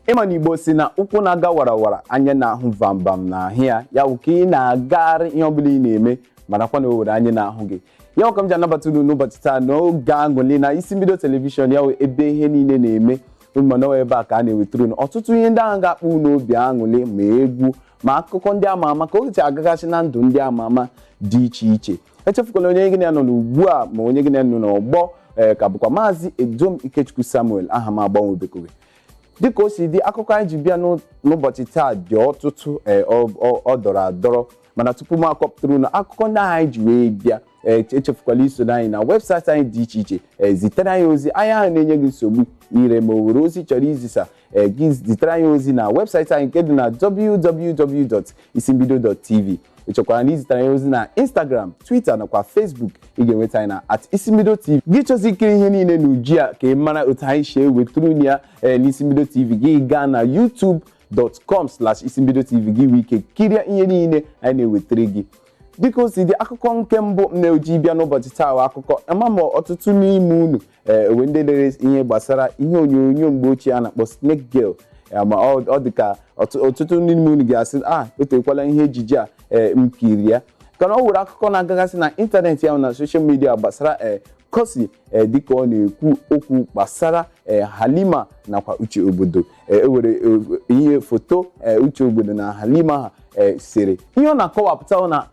ị ma na igbo si na ụkwụ na-aga warawara anya na-ahụ vam vam na-ahụ ya ya bụ ka ị na-agagharị ihe ọbụla ị na-eme marakwa na o were anya na-ahụ gị ya bụ ka m ji anabata unu n'ụbọchị taa n'oge aṅụli na isimbido telivishọn ya bụ ebe ihe niile na-eme ị ma na ọ wụ ebe a ka a na-ewetara unu ọtụtụ ihe ndị ahụ ga-akpọ unu obi aṅụli ma egwu ma akụkọ ndị ama ama ka o si agagasị na ndụ ndị ama ama dị iche iche echefukwala onye gị na ya nọ n'ugbu a ma onye gị na ya nọ n'ọgbọ ee ka bụkwa maazị edom ikechukwu samuel aha m agbanwebekoghị dịka o si dị akụkọ anyị ji bịa n'ụ- n'ụbọchị taa dị ọtụtụ ee, ọ- ọ- ọ dọrọ adọrọ mana tupu m akọpụtara unu akụkọ ndị ahụ anyị ji wee bịa ee, echefukwala iso anyị na webụsaịtị anyị dị iche iche ee, zitere anyị ozi ahịa ahụ na-enye gị nsogbu ire ma o were ozi ị chọrọ izisa ee, gị zitere anyị ozi na webụsaịtị anyị nke dị na www.isimbido.tv ị chọkwaranụ izitere anyị ozi na instagram twitter nakwa facebook ị ga-enweta anyị na at isimbido tv gị chọzi ikiri ihe niile n'uju a ka ị mara otu anyị si ewetara unu ya ee, n'isimbido tv gị gaa na youtube youtube.com slash isimbido tv gị nwee ike kirie ihe niile anyị na-ewetara gị dịka o si dị akụkọ nke mbụ m na-eji bịa n'ụbọchị taa wụ akụkọ ama m ọtụtụ n'ime unu ee o nwe ndị lere ihe gbasara ihe onyonyo mgbe ochie a na-akpọ snake girl ya ma ọ ọ dị ka ọtụ- ọtụtụ ndị n'ime unu ga-asị a etekwala ihe ejije a ee m kiri ya kana o were akụkọ na-agagasị na ịntanetị ahụ na soshal midia gbasara ee cossy ee dịka ọ na-ekwu okwu gbasara ee halima nakwa uche ogbodo e were ihe foto uche ogbodo na halima ha sere ihe ọ na-akọwapụta na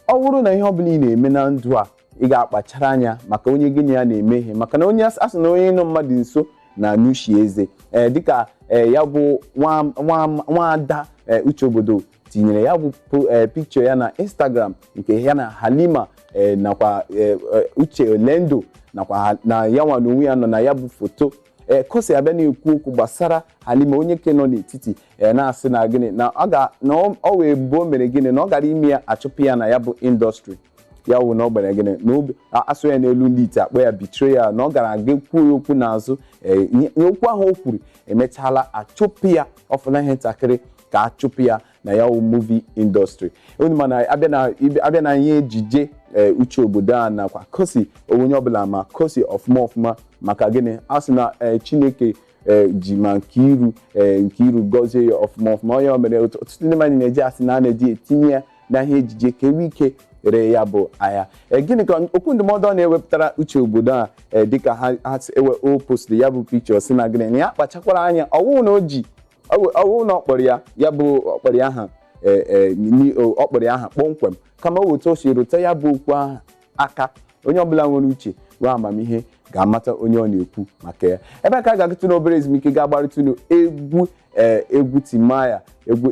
ọ bụrụ na ihe ọ bụla ị na-eme na ndụ a ị ga-akpachara anya maka onye gị na ya na-eme ihe maka na onye a sị na onye nọ mmadụ nso na-anụ ishi eze ee dịka ee ya bụ nwaada uche ogbodo tinyere ya bụ pikchọ ya na instagram nke ya na halima nakwa uche elendu nakwa na ya nwa na onwe ya nọ na ya bụ foto ee cossy abịa na-ekwu okwu gbasara halima onye nke nọ n'etiti ee na-asị na gịnị na ọ ga na ọ- ọ wee bụ o mere gịnị na ọ gara ime ya a chụpụ ya na ya bụ industry ya wụ na ọ gbara gịnị na obi a- a sụọ ya n'olu ndị ite a kpọọ ya betrayal na ọ gara aga kwuo ya okwu n'azụ ee, nye- nye okwu ahụ o kwuru emechaala a chụpụ ya ọ fọla ihe ntakịrị ka a chụpụ ya na ya wụ movie industry unu ma na a bịa na ibe- a bịa na ihe ejije ee, uche ogbodo a nakwa cossy onye ọbụla ma cossy ọfụma ọfụma maka gịnị a sị na ee, chineke ee, ji mma nke iru ee, nke iru gọzie ya ọfụma ọfụma onye o mere otu- ọtụtụ ndị mmadụ na-eji asị na a na-eji etinye ya na ihe ejije ka e nwee ike ree ya bụ ahịa Ee, gịnị ka okwu ndụmọdụ ọ na-ewepụtara uche ogbodo a ee, dịka ha ha si ewe o postiri ya bụ pikchọ si na gịnị na ya kpachakwara anya ọ wụrụ na o ji ọwụ na ọ kpọrọ ya ya bụ ọ kpọrọ ya aha ọ kpọrọ ya aha kpọmkwem kama ọ wụ etu o si rụtụ ya bụ okwu ahụ aka onye ọbụla nwere uche nwee amamihe ga-amata onye ọ na-ekwu maka ya ebe a ka a ga-agatụ n'obere ezumike ga-agbaratụ unu egwu egwu timaya egwu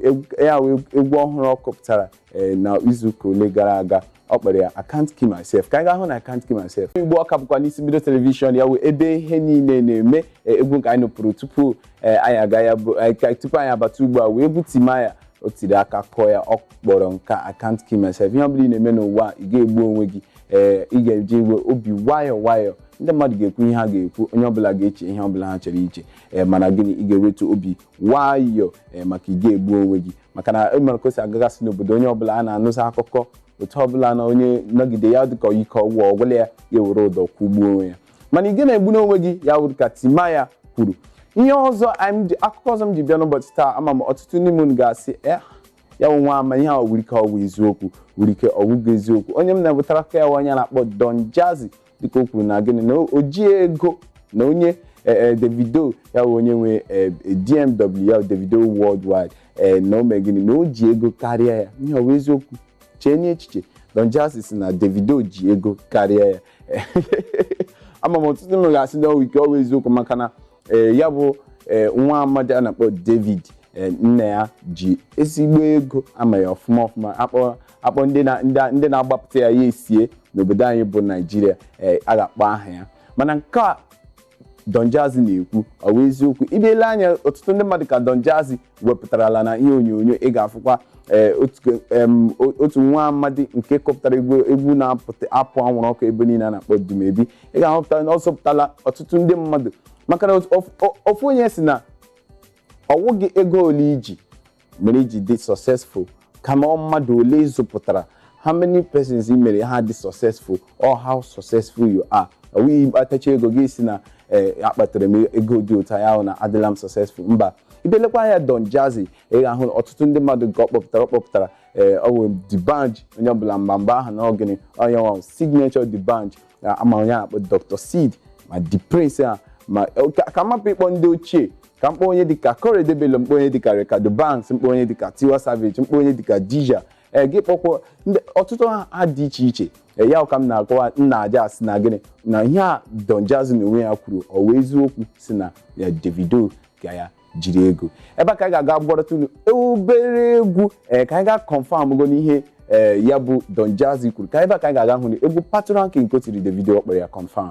egwu ọhụrụ ọ kụpụtara ee na izuụka ole gara aga ọ kpọrọ ya I can't kill myself ka anyị gaa hụnụ I can't kill myself igbo ọ ka bụkwa n'isimbido telivishọn ya wụ ebe ihe niile na-eme ee, egwu nke anyị nụpụrụ tupu ee, anyị aga ya bụ anyị ka- tupu anyị abata ugbu a wụ egwu timaya o tiri aka kụọ ya ọ kpọrọ nke a, I can't kill myself ihe ọ bụla ị na-eme n'ụwa a, ị ga-egbu onwe gị ee ị ga-ejiwe obi nwayọọ nwayọọ ndị mmadụ ga-ekwu ihe ha ga-ekwu onye ọbụla ga-eche ihe ọbụla ha chọrọ iche ee mana gịnị ị ga-ewetu obi nwayọọ ee maka ị ga-egbu onwe gị maka na ịmara ka o si agagasị n'obodo onye ọbụla a na-anụzi akụkọ otu ọbụla na onye nọgide ya dịka ike ọ gwụ ọ gwụla ya ya were ụdọ kwụgbuo onwe ya mana ị ga na-egbu n'onwe gị ya wụrụ ka timaya kwuru ihe ọzọ anyị ji- akụkọ ọzọ m ji bịa n'ụbọchị taa ama m ọtụtụ ndị mmadụ ga-asị "Eh, ya wụ nwa ama ihe a nwere ike ọwụ eziokwu nwere ike ọwụghị eziokwu onye m na-ewetara ka ya wụ onye a na-akpọ Don Jazzy dịka o kwuru na gịnị na o ji ego na onye ee davido ya bụ onye nwe ee, dmw ya bụ davido worldwide ee na o mee gịnị na o ji ego karịa ya ihe ọ bụ eziokwu cheenụ echiche don jazzy sị na davido ji ego karịa ya ama m ọtụtụ unu ga-asị na o nwere ike ọwụ eziokwu maka na ee, ya bụ ee, nwa amadi a na-akpọ david ee, nna ya ji ezigbo ego a ma ya ọfụma ọfụma akpọ a kpọọ ndị na- ndị a- ndị na-agbapụta ya ya esie n'obodo anyị bụ naijiria ee, a ga-akpọ aha ya mana nke a Don Jazzy na-ekwu ọ bụ eziokwu ị bịa lee anya ọtụtụ ndị mmadụ ka Don Jazzy wepụtarala na ihe onyonyo ị ga-afụkwa ee, otu em, o- otu nwa amadi nke kụpụtara egwu egwu na-apụta apụ anwụrụ ọkụ ebe niile a na-akpọ Dumebi ị ga-ahụpụta na ọ zụpụtala ọtụtụ ndị mmadụ maka na ofu- o- ofu onye sị na ọ wụghị ego ole i ji mere i ji dị successful kama ọ mmadụ ole ị zụpụtara how many persons i mere ha dị successful or how successful you are ọ bụghị ị kpatachaa ego gị sị na ee akpatara m ego dị otu a ya wụ na adịla m successful mba ị bịa lekwa anya Don Jazzy ị ga-ahụ na ọtụtụ ndị mmadụ nke ọ kpọpụtara ọ kpọpụtara ee ọ bụ D'banj onye ọbụla mgbe mgbe ahụ na ọ gịnị onye nwe signature D'banj Ya a ma onye a na-akpọ Dr. Sid ma D'Prince a ma ka ka m hapụ ịkpọ ndị ochie ka m kpọọ onye dịka Korede Bello m kpọọ onye dịka Reekado Banks m kpọọ onye dịka Tiwa Savage m kpọọ onye dịka Di'Ja ee gị kpọkwuo ndị ọtụtụ ha ha dị iche iche ee ya ka m na-akọwa na-ajụ sị na gịnị na ihe a Don Jazzy na onwe ya kwuru ọ wụ eziokwu sị na ya Davido ka ya jiri ego ebe a ka anyị ga-aga gbaratụ unu obere egwu ee ka anyị ga confam go n'ihe ee ya bụ Don Jazzy kwuru ka ebe a ka anyị ga-aga hụnụ egwu Patoranking nke o tiri Davido ọ kpọrọ ya confam